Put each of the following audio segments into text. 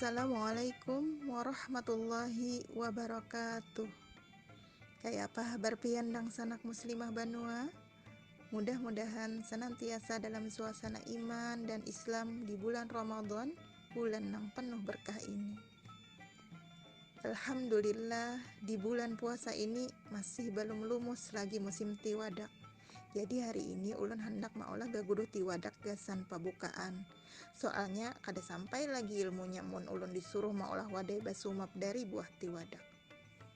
Assalamualaikum warahmatullahi wabarakatuh Kaya apa habar pian dangsanak muslimah banua? Mudah-mudahan senantiasa dalam suasana iman dan islam di bulan Ramadan, bulan nang penuh berkah ini. Alhamdulillah di bulan puasa ini masih belum lumus lagi musim tiwadak. Jadi hari ini ulun handak maolah gaguduh tiwadak gasan pabukaan. Soalnya kada sampai lagi ilmunya mun ulun disuruh maolah wadai basumap dari buah tiwadak.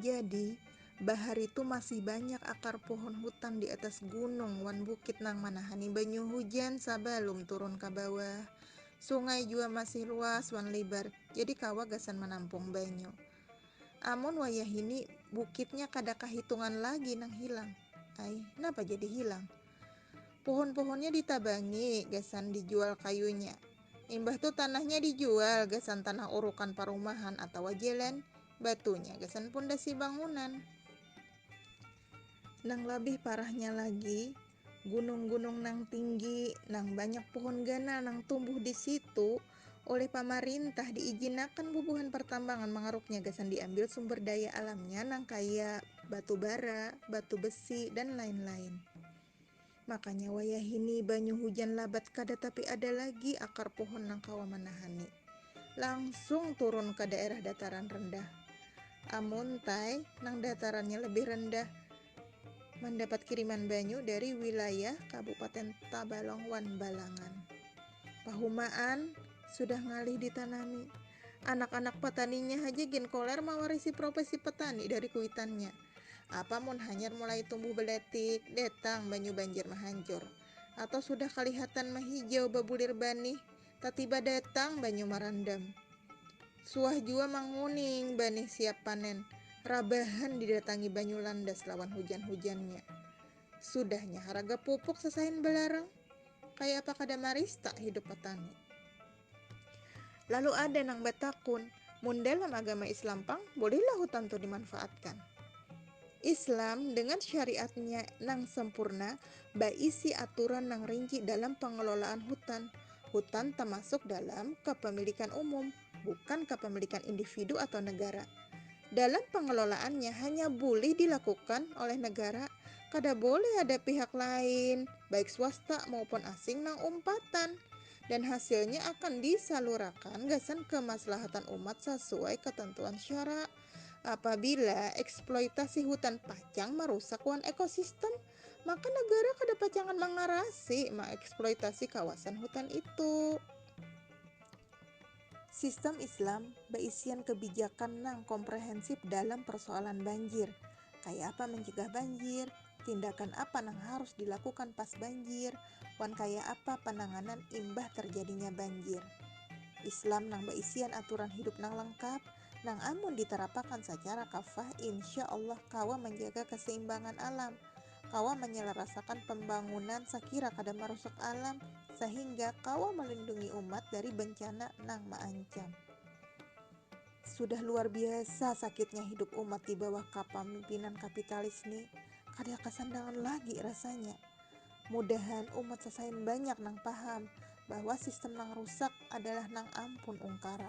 Jadi, bahari tu masih banyak akar pohon hutan di atas gunung wan bukit nang manahani banyu hujan sabalum turun ka bawah. Sungai jua masih luas wan libar, jadi kawa gasan manampung banyu. Amun wayahini, bukitnya kada kahitungan lagi nang hilang. Ai, napa jadi hilang? Pohon-pohonnya ditabangi gasan dijual kayunya, Imbah tu tanahnya dijual gasan tanah urukan parumahan atawa jalan, batunya gasan pundasi bangunan. Nang labih parahnya lagi, gunung-gunung nang tinggi, nang banyak puhun ganal nang tumbuh di situ, oleh pamarintah diijinakan bubuhan partambangan mangaruknya gasan diambil sumber daya alamnya nangkaya batu bara, batu besi, dan lain-lain. Makanya wayahini banyu hujan labat kada tapi ada lagi akar pohon nang kawa manahani. Langsung turun ka daerah dataran rendah. Amun tai nang datarannya lebih rendah mandapat kiriman banyu dari wilayah Kabupaten Tabalong wan Balangan. Pahumaan sudah ngalih ditanami. Anak-anak pataninya haja gin koler mawarisi profesi petani dari kuitannya. Apa mun hanyar mulai tumbuh baletik, datang banyu banjir mahancur. Atau sudah kalihatan mahijau babulir banih, tatiba datang banyu marandam. Suah jua manguning banih siap panen, rabahan didatangi banyu landas lawan hujan-hujannya. Sudahnya haraga pupuk sasain balarang. Kaya apa kada marista hidup patani. Lalu ada nang batakun, mun dalam agama Islam pang bolehlah hutan tu dimanfaatkan? Islam dengan syariatnya nang sempurna baisi aturan nang rinci dalam pengelolaan hutan. Hutan tamasuk dalam kapamilikan umum, bukan kapamilikan individu atau negara. Dalam pengelolaannya hanya bulih dilakukan oleh negara, kada boleh ada pihak lain, baik swasta maupun asing nang umpatan. dan hasilnya akan disalurakan gasan kemaslahatan umat sasuai katantuan syara. Apabila eksploitasi hutan pacang marusak wan ekosistem, maka negara kada pacangan mangarasi maeksploitasi kawasan hutan itu. Sistem Islam baisian kebijakan nang komprehensip dalam persoalan banjir, kaya apa mencegah banjir, tindakan apa nang harus dilakukan pas banjir, wan kaya apa pananganan imbah terjadinya banjir. Islam nang baisian aturan hidup nang lengkap, nang amun diterapakan sacara kafah insya Allah kawa manjaga keseimbangan alam, kawa manyalarasakan pambangunan sakira kada marusak alam sahingga kawa malindungi umat dari bencana nang maancam. Sudah luar biasa sakitnya hidup umat di bawah kapamimpinan kapitalis ni, kada kasandangan lagi rasanya. Mudahan umat sasain banyak nang paham bahwa sistem nang rusak adalah nang ampun ungkara.